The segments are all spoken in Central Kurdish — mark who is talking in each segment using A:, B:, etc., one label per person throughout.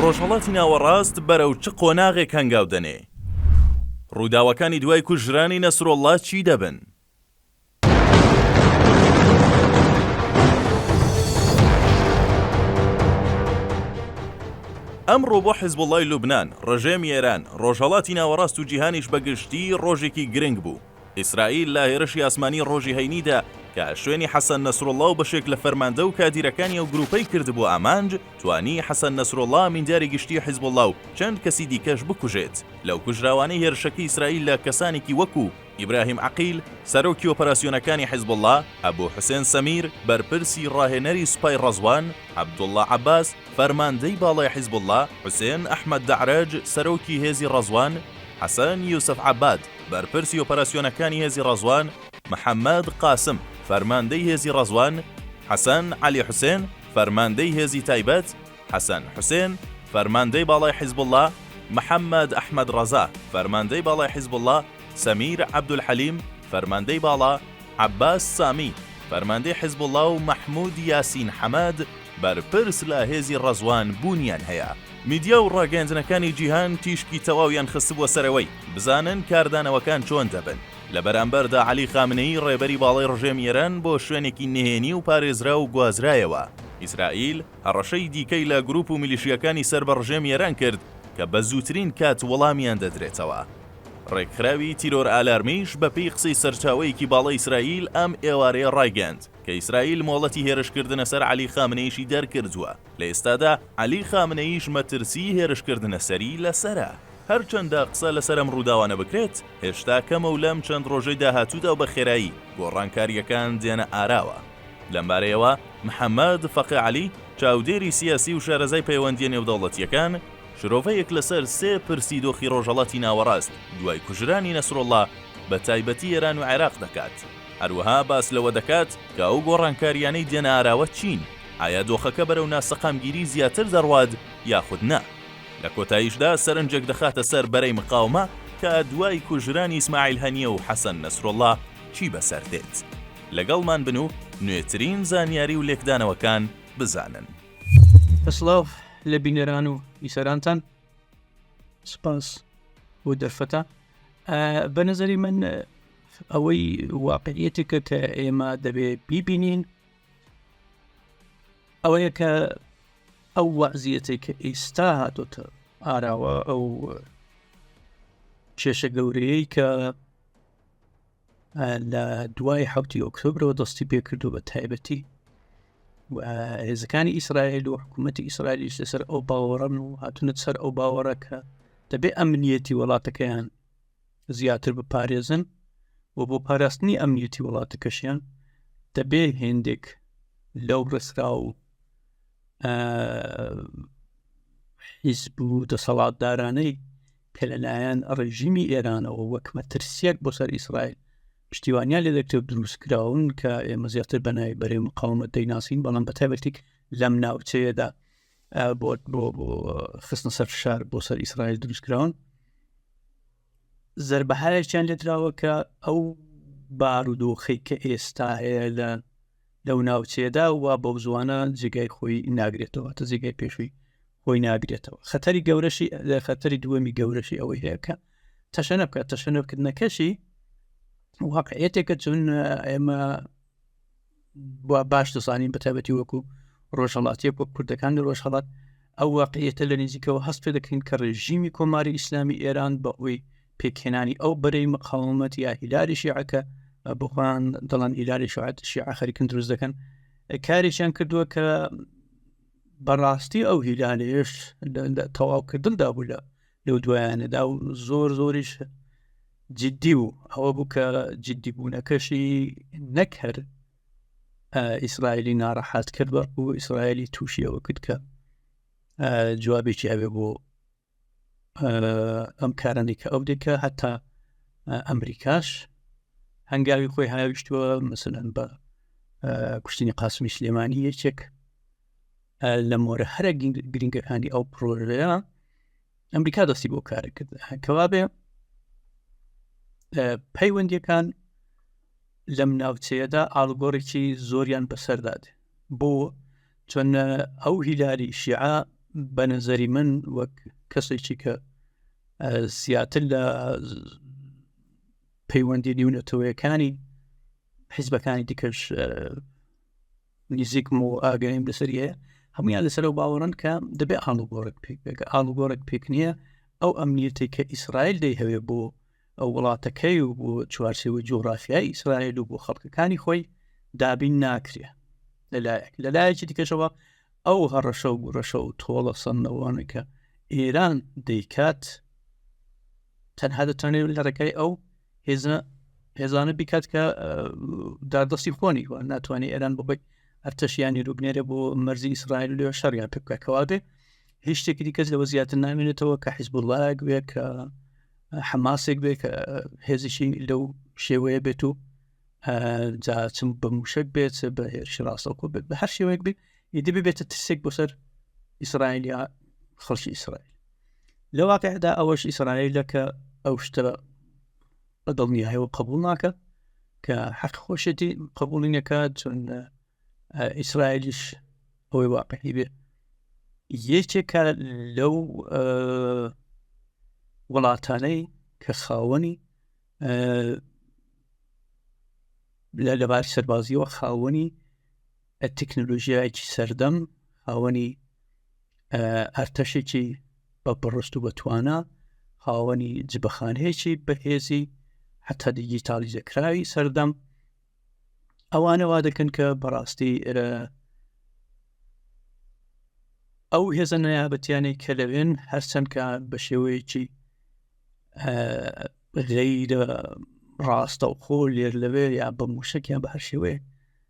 A: ڕۆژهەڵاتی ناوەڕاست بەرەو چ قۆناغێک هەنگاو دەنێ؟ ڕووداوەکانی دوای کوژرانی نەسرۆڵڵا چی دەبن؟ ئەمڕۆ بۆ حیزبوڵڵای لوبنان، ڕژێمی ئێران، ڕۆژهەڵاتی ناوەڕاست و جیهانیش بە گشتی ڕۆژێکی گرنگ بوو. ئیسرائیل لە هێرشی ئاسمانی ڕۆژی هەینیدا کە شوێنی حەسەن نەسروڵڵا و بەشێک لە فەرماندە و کادیرەکانی ئەو گرووپەی کردبووە ئامانج، توانی حەسەن نەسروڵڵا ئەمینداری گشتیی حیزبوڵڵا و چەند کەسی دیکەش بکوژێت. لەو کوژراوانەی هێرشەکەی ئیسرائیل لە کەسانێکی وەکوو، ئیبراهیم عەقیل، سەرۆکی ئۆپەراسیۆنەکانی حیزبوڵڵا، ئەبو حوسێن سەمیر، بەرپرسی ڕاهێنەری سوپای ڕەزوان، عەبدوڵڵا عەباس، فەرماندەی باڵای حیزبوڵڵا، حوسێن ئەحمەد دەعرەج، سەرۆکی هێزی ڕەزوان، حەسەن یوسف عەباد، بەرپرسی ئۆپەراسیۆنەکانی هێزی ڕەزوان، محەممەد قاسم، فەرماندەی هێزی ڕەزوان، حەسەن عەلی حوسێن، فەرماندەی هێزی تایبەت، حەسەن حوسێن، فەرماندەی باڵای حیزبوڵڵا، محەممەد ئەحمەد ڕەزا، فەرماندەی باڵای حیزبوڵڵا، سەمیر عەبدولحەلیم، فەرماندەی باڵا، عەباس سامی، فەرماندەی حیزبوڵڵا و مەحموود یاسین حەمەد، بەرپرس لە هێزی ڕەزوان بوونیان هەیە. میدیا و ڕاگەیاندنەکانی جیهان تیشکی تەواویان خستبووە سەرەوەی، بزانن کاردانەوەکان چۆن دەبن. لە بەرامبەردا عەلی خامنەیی ڕێبەری باڵای ڕژێمی ئێران بۆ شوێنێکی نهێنی و پارێزراو گوازرایەوە. ئیسرائیل هەڕەشەی دیکەی لە گروپ و میلیشیاکانی سەر بە ڕژێمی ئێران کرد کە بە زووترین کات وەڵامیان دەدرێتەوە. ڕێکخراوی تیرۆر ئالارمیش بە پێی قسەی سەرچاوەیەکی باڵای ئیسرائیل ئەم ئێوارەیە ڕایگەیاند، کە ئیسرائیل مۆڵەتی هێرشکردنە سەر عەلی خامنەیشی دەرکردووە، لە ئێستادا عەلی خامنەییش مەترسیی هێرشکردنە سەری لەسەرە. هەرچەندە قسە لەسەر ئەم ڕووداوانە بکرێت، هێشتا کەمە و لەم چەند ڕۆژەی داهاتوودا و بەخێرایی گۆڕانکارییەکان دێنە ئاراوە. لەمبارەیەوە محەممەد فەقێ عەلی، چاودێری سیاسی و شارەزای پەیوەندییە نێودەوڵەتییەکان، شرۆڤەیەک لەسەر سێ پرسی دۆخی ڕۆژهەڵاتی ناوەڕاست دوای کوژرانی نەسروڵڵا، بەتایبەتی ئێران و عێراق دەکات. هەروەها باس لەوە دەکات کە ئەو گۆڕانکارییانەی دێنە ئاراوە چین، ئایا دۆخەکە بەرەو ناسەقامگیری زیاتر دەڕوات یاخود نا. لە کۆتاییشدا سەرنجێک دەخاتە سەر بەرەی مقاومە کە دوای کوژرانی ئیسماعیل هەنیە و حەسەن نەسروڵڵا چی بەسەر دێت. لەگەڵمان بن و نوێترین زانیاری و لێکدانەوەکان بزانن.
B: سڵاو لە بینەران و بیسەرانتان، سوپاس بۆ دەرفەتە. بە نەزەری من، ئەوەی واقعیەتێکە کە ئێمە دەبێ بیبینین ئەوەیە کە ئەو وەزیەتێک کە ئیستا هاتۆتە ئاراوە ئەو کێشە گەورەیەی کە لە دوای حوتی ئۆکتۆبرەوە دەستی پێکردو بە تایبەتی هێزەکانی ئیسرائیل و حکوومەتتی ئیسرائیلیش لەسەر ئەو باوەڕن و هاتونە سەر ئەو باوەڕەکە دەبێ ئەمنیەتی وڵاتەکەیان زیاتر بپارێزن و بۆ پاراستنی ئەمنیەتی وڵاتەکەشیان دەبێ هێندێک لەو ڕێسرا و حیزب و دەسەڵاتدارانەی کە لەلایەن ڕێژیمی ئێرانەوە وەک مەترسیەک بۆ سەر ئیسرائیل پشتیوانیان لە دەکتێب دروست کراون کە ئێمە زیاتر بەنای بەرەی مقاومەت دەیناسین بەڵام بە تایبەتێک لەم ناوچەیەدا بۆ بۆ بۆ خستنە سەر فشار بۆ سەر ئیسرائیل دروستکراون زربەهایەکیان لێدراوە کە ئەو بارودۆخی کە ئێستا هەیە لە لەو ناوچێدا و بەو زوانە جێگای خۆی ناگرێتەوە تە جێگای پێشووی خۆی ناگرێتەوە خەتەری گەورەشی لە خەتەری دووەمی گەورەشی ئەوەی هەیەکە تەشەنە بکات تەشەنەکردنەکەشی واقعەتێکە چون ئێمە باش دەزانین بەتابەتی وەکو ڕۆژهڵاتیەک وەک کوردەکان لە ڕۆژهڵات ئەو واقعیەتە لە نزیکەوە هەست پێ دەکەین کە ڕێژیمی کۆماری ئیسلامی ئێران بە ئەوی پێکهێنانی ئەو بەرەی مقاومەت یا هیلاری شیعەکە بخۆیان دەڵان هیلاری شعات شیع خەریکن دروست دەکەن کارێکیان کردووە کە بەڕاستی ئەو هیلانێش تەواوکردندا بوو لە لەو دوایانەدا و زۆر زۆریش جددی و ئەوە بوو کە جددی بوونەکەشی نەکرد ئیسرائیلی ناڕەحات کرد بە و ئیسرائیلی تووشیەوە کرد کە جوابێکی ئەوێ بۆ ئەم کارانی کە ئەو دێکە هەتا ئەمریکاش هەنگاوی خۆی هاویشتووە مثلەن بە کوشتنی قاسمی سلێمانی یەکێک لە مۆرە هەرە گرنگەکانی ئەو پرۆژەیە ئەمریکا دەستی بۆ کارە کرد کەوابێ پەیوەندیەکان لەم ناوچەیەدا ئاڵگۆڕێکی زۆریان بەسەرداد بۆ چۆن ئەو هیلاری شیعە بە نەزەری من وەک کەسێکی کە زیاتر لە پەیوەندی نیونەتەوەیەکانی حیزبەکانی دیکەش نزیکم و ئاگەیم لەسەر هەیە هەمویان لەسەر و باوەڕن کە دەبێ ئاڵوگۆڕێک پێک بێکە ئاڵوگۆڕێک پێک نییە ئەو ئەمنیەتی کە ئیسرائیل دەی هەوێ بۆ ئەو وڵاتەکەی و بۆ چوارچەوە جوغرافیای ئیسرائیل و بۆ خەڵکەکانی خۆی دابین ناکرێ لەلایەک لەلایەکی دیکەشەوە ئەو هەڕەشە و گوڕەشە و تۆڵە سندەوانەکە ئێران دەیکات تەنها دەتوانێت لە ڕێکای ئەو هێزە هێزانە بیکات کە دادەستی خۆنی وە ناتوانانی ئێران بخۆی ئەرتەشیانی روبنێرە بۆ مەرزی ئیسرائیل لێ شەڕیان پێ بکە کەوابێ هیچ شتێکی دیکەس لەوە زیاتر نامێنێتەوە کە حیزب وڵایەک بێ کە حەماسێک بێ کە هێزیشی لەو شێوەیە بێت و جاچم بە موشک بێت بە هێرش ڕاستەکۆ بێت بە هەر شێوەیەک بێت ئیدی ببێتە ترسێک بۆ سەر ئیسرائیل یا خەڵکی ئیسرائیل لە واقعدا ئەوەش ئیسرائیلە کە ئەو شتە بە دڵنیایەوە قبول ناکە کە حەق خۆشێتی قبولی نەکات چون ئیسرائیلیش ئەوەی واقعی بێ یەکێکە لەو وڵاتانەی کە خاوەنی لە لەبار سەربازیەوە خاوەنی تەکنەلۆژیایەکی سەردەم هاوەنی ئەرتەشێکی بە بڕست و بەتوانە هاوەنی جبەخانەیەکی بەهێزی حتا دیجیتالی دەکراوی سەردەم ئەوانەوا دەکەن کە بەڕاستی ئەو هێزە نایابەتیانەی کە لەوێن هەرچەندکە بە شێوەیەکی غەیرە ڕاستە و خۆ لێر لەوێ یا بە موشکیان بە هەر شێوەیە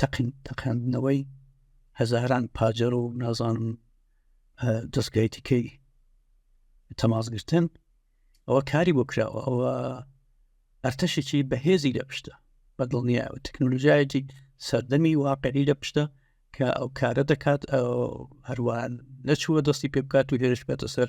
B: تەقین تەقاندنەوەی هەزاران پاجەر و نازانم دەستگای دیکەی تەماسگرتن ئەوە کاری بۆ کراوە ئەوە ئەرتەشێکی بەهێزی لە پشتە بە دڵنیە تەکنۆلژایەتی سەردەمی واقعی لە پشتە کە ئەو کارە دەکات هەروان نەچووە دەستی پێ بکات و هێرش بێتە سەر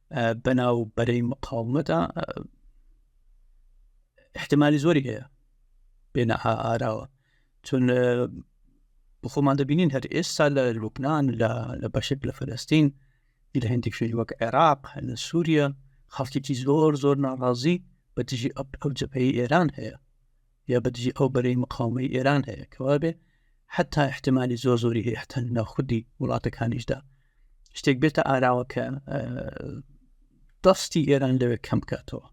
B: بەناو بەرەی مقاومەتە احتمالی زۆری هەیە بێنە ئاراوە چون بخۆمان دەبینین هەر ئێستا لە لوبناان لە بەشێک لە فلستین لە هەندێک شوێنی وەک عێراق لە سووریە خەڵکیی زۆر زۆر ناڕازی بە دژی ئەو جەپەی ئێران هەیە یا بەدژی ئەو بەرەی مقاومەی ئێران هەیە کەوابێ حتا احتمالی زۆر زۆری هەیە حتا ناخودی وڵاتەکانیشدا شتێک بێتە ئاراوە کە دەستی ئێران لەوێ کەم بکاتەوە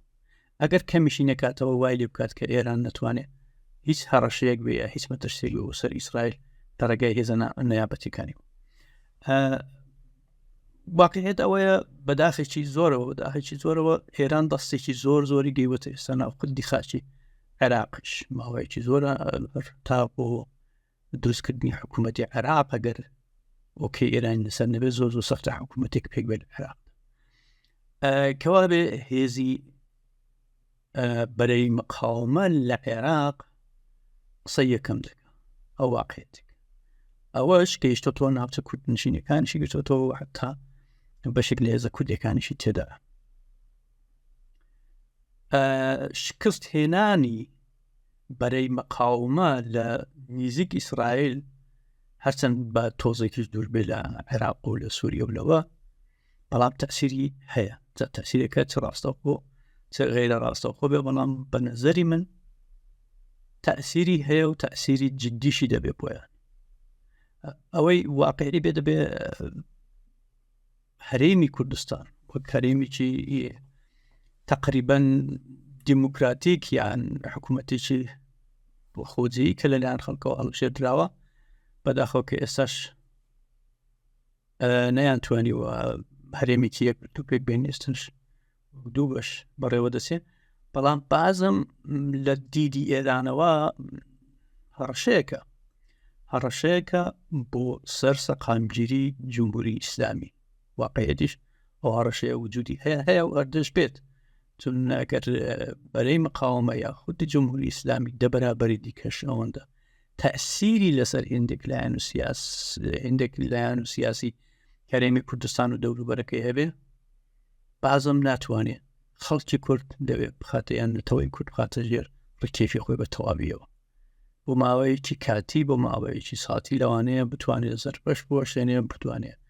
B: ئەگەر کەمیشی نکاتەوە وای لێ بکات کە ئێران نتوانێت هیچ هەڕەشەیەک بێ یا هیچ مەترسێک بۆ سەر ئیسرائیل لە ڕێگای هێزە نەیابەتەکانی واقعێت ئەوەیە بەداخێکی زۆرەوە داخێکی زۆرەوە ئێران دەستێکی زۆر زۆری گەیوەتە ئێستا ناوخدی خاچی عێراقش ماوەیەکی زۆرە تا بۆ دروستکردنی حکوومەتتی عێراق ئەگەر ئۆکەی ئێران لەسەر نەبێت زۆر زۆر سەختە حکوومەتێک پێک بێت عێراق کەوا بێ هێزی بەرەی مقاومە لە عێراق قسە یەکەم دەکە ئەو واقعێتێک ئەوەش گەیشتە تۆ ناوچە کورد نشینەکانشی گەشتەوە حتا بەشێک لە هێزە کوردەکانیشی تێدا شکست هێنانی بەرەی مەقاومە لە نیزیک ئیسرائیل هەرچەند بە تۆزێکیش دوور بێ لە عێراق و لە سووریە و لەوە بەڵام تەسیری هەیە تەسیرەکە چ ڕاستەوخۆ چ غیرە ڕاستەوخۆ بێ بەڵام بە نەزەری من تەسیری هەیە و تەسیری جددیشی دەبێ بۆیان ئەوەی واقعی بێ دەبێ هەرێمی کوردستان وەک هەرێمیی تقریبن دیموکراتیک یان حکوومەتێکی خۆجیی کە لەلایەن خەڵکەوە هەڵشێدراوە بەداخۆ کە ئێستاش نەیان توانیوە هەرێمێکی یەک تو پێک بێنێستش دوو بەش بەڕێوە دەچێت بەڵام بازم لە دیدی ئێرانەوە هەڕەشەیەەکە هەڕەشەیەەکە بۆ سەر سەقامگیری جمهوری ئیسلامی واقعەتیش ئەو هەڕەشەیە وجودی هەیە هەیە و ئەردش بێت چون ئەگەر بەرەی مقاومە یا خودی جمهوری ئیسلامی دەبەرابەری دیکەش ئەوەندە تەسیری لەسەر هندێک لایەن و سیاس هندێک لایەن و سیاسی هەرێمی کوردستان و دەوروبەرەکەی هەبێ بازم ناتوانێت خەڵکی کورد دەوێت بخاتیان نەتەوەی کورد بخاتە ژێر ڕکێفی خۆی بە تەواویەوە بۆ ماوەیەکی کاتی بۆ ماوەیەکی ساتی لەوانەیە بتوانێت زەربەش بۆ شوێنێ بتوانێت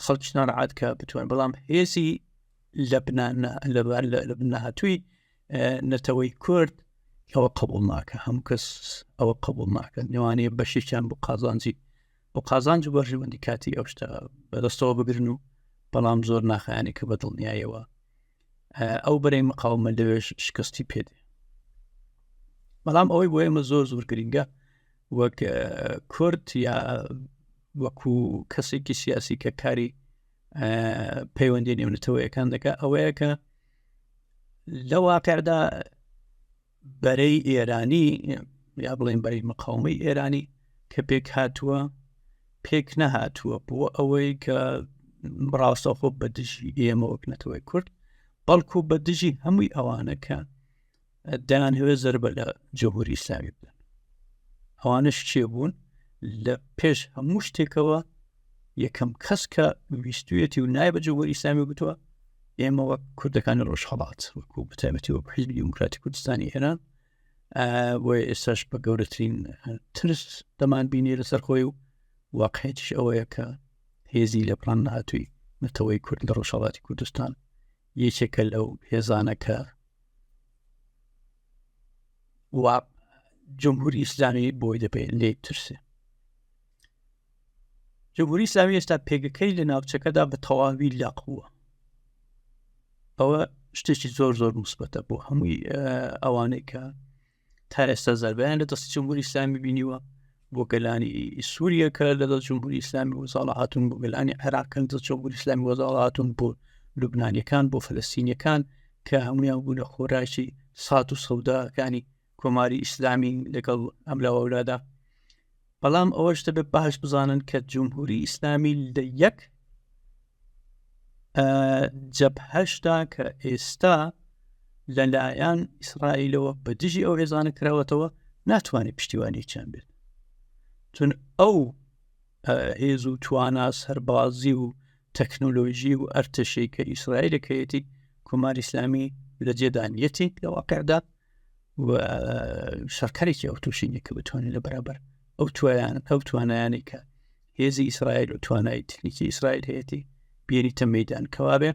B: خەڵکیان عادکە بتوان بەڵام هێزی لە بنانە لەبار لە بنەهاتووی نەتەوەی کورد ئەوە قبول ناکە هەموو کەس ئەوە قبول ناکە نێوانەیە بەشێکیان بۆ قازانجی بۆ قازانج و بەرژەوەندی کاتی ئەو شتە بەدەستەوە بگرن و بەڵام زۆر ناخیانی کە بە دڵنیایەوە ئەو بەرەی مقاومە لەوێش شکستی پێدێ بەڵام ئەوەی بۆ ئێمە زۆر زۆر گرنگە وەک کورد یا وەکو کەسێکی سیاسی کە کاری پەیوەندی نێونەتەوەیەکان دەکە ئەوەیە کە لە واقعدا بەرەی ئێرانی یا بڵێن بەری مقاومەی ئێرانی کە پێک هاتووە پێک نەهاتووە بۆ ئەوەی کە ڕاستەخۆ بە دژی ئێمە وەکنەتەوەی کورد بەڵکو بە دژی هەمووی ئەوانەکە دەیان هەوێ زربە لە جەهوری ئیسلامی بدەن ئەوانش چێ بوون لە پێش هەموو شتێکەوە یەکەم کەس کە ویستویەتی و نای بە جەهوری ئیسلامی گوتووە ئێمە وەک کوردەکانی ڕۆژهڵات وەکو بەتابەتی وەک حیزبی دیموکراتی کوردستانی ئێران بۆ ئێساش بە گەورەترین ترس دەمان بینی لەسەر خۆی و واقعێتیش ئەوەیە کە هێزی لە پلان نهاتووی نەتەوەی کورد لە ڕۆژهڵاتی کوردستان یەکێکە لەو هێزانەکە و جمهوری ئیسلامی بۆی دەپێ لێ ترسێ جمهوری ئیسلامی ئێستا پێگەکەی لە ناوچەکەدا بە تەواوی لاقووە ئەوە شتێکی زۆر زۆر مثبتە بۆ هەمووی ئەوانەی کە تا ئێستا زەربیان لە دەستی جمهوری ئسلامی بینیوە بۆ گەلانی سووریە کە لە دەست جمهوری ئسلامی وزاڵە هاتون بۆ گەلانی عێراقن دە جمهوری ئسلامی وەزاڵ هاتون بۆ لوبنانیەکان بۆ فلستینیەکان کە هەمویان بوو لە خۆراکی سات و سەوداکانی کۆماری ئیسلامی لەگەڵ ئەم لە وەولادا بەڵام ئەوەش دەبێت باش بزانن کە جمهوری ئیسلامی لە یەک جەبهشتا کە ئێستا لەلایەن ئیسرائیلەوە بە دژی ئەو هێزانە کراوەتەوە ناتوانێت پشتیوانێکیان بێت چون ئەو هێز و توانا سەربازی و تەکنۆلۆژی و ئەرتەشەی کە ئیسرائیلەکەیەتی کۆمار ئیسلامی لە جێدانیەتی لە واقعدا شەکارێکی ئەو تووشینە کە بتوانین لە بەرابەر ئەو تویان ئەو توانایانی کە هێزی ئیسرائیل و توانای تکنیکی ئیسرائیل هەیەی بێریتە مەدان کەوابێ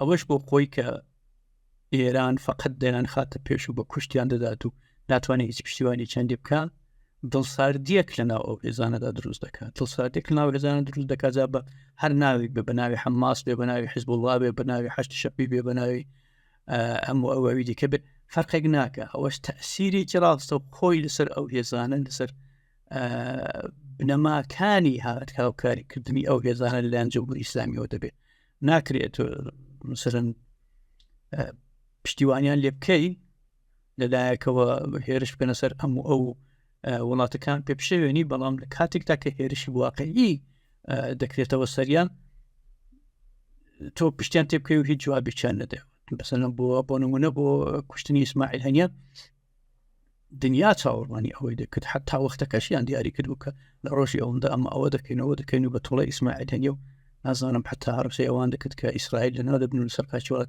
B: ئەوەش بۆ خۆی کە ئێران فقط دەیان خاتە پێش و بە کوشتیان دەدات و ناتوانێت هیچ پشتیوانی چەندی بکە دڵساردیەک لە ناو ئەو هێزانەدا دروست دەکات دڵساردێک ناو هێزانە دروست دەکات بە هەر ناوی بە بەناوی حماس بێ بەناوی حزب وڵا بێ بەناوی حشت شەپی بێ بەناوی ئەم و ئەوەوی دیکە بێت فەرقێک ناکە ئەوەش تەسیرێکی ڕاستە و خۆی لەسەر ئەو هێزانە لەسەر بنەماکانی هاات هاوکاریکردنی ئەو هێزانە لەلاەن جمهوری ئسلامیەوە دەبێت ناکرێت مثلەن پشتیوانیان لێ بکەین لەلایەکەوە هێرش بکەنە سەر ئەم و ئەو وڵاتەکان پێ پشێوێنی بەڵام لە کاتێکدا کە هێرشی واقعی دەکرێتەوە سەریان تۆ پشتیان تێ بکەی و هیچ جوابیان نەدە بەسەن بۆ بۆ نمونە بۆ کوشتنی ئیسماعیل هەنیە دنیا چاوەڕوانی ئەوەی دەکرد حتا وەختەکەشیان دیاری کرد بکە لە ڕۆژی ئەوەندا ئەمە ئەوە دەکەینەوە دەکەین و بە تۆڵە ئیسماعیل هەنیە و نازانم حتا ڕوسەوان دەکرد کە ئیسرائیل لەنا دەبن و سەرکچوات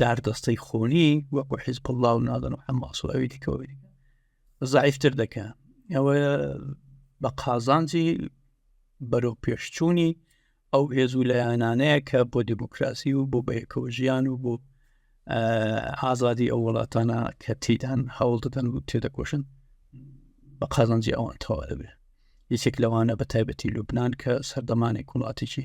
B: داردەستەی خۆنی وەکو حیزب الله و نادن و حماس و ئەوی دیکەوەی زعیفتر دەکە ئەوە بە قازانجی بەرەو پێشچوونی ئەو هێز و لایەنانەیە کە بۆ دیموکراسی و بۆ بەیەکەوە ژیان و بۆ ئازادی ئەو وڵاتانە کە تیدان هەوڵ دەدەن و تێدەکۆشن بە قازانجی ئەوان تەواە بێ یەکێک لەوانە بە تایبەتی لوبناان کە سەردەمانێک وڵاتێکی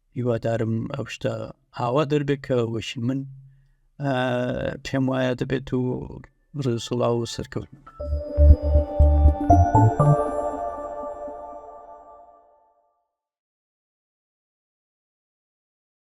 B: هیوادارم ئەو شتە ئاوا دەربێت کە وەشی من پێم وایە دەبێت و ڕێسوڵا و سەرکەوت.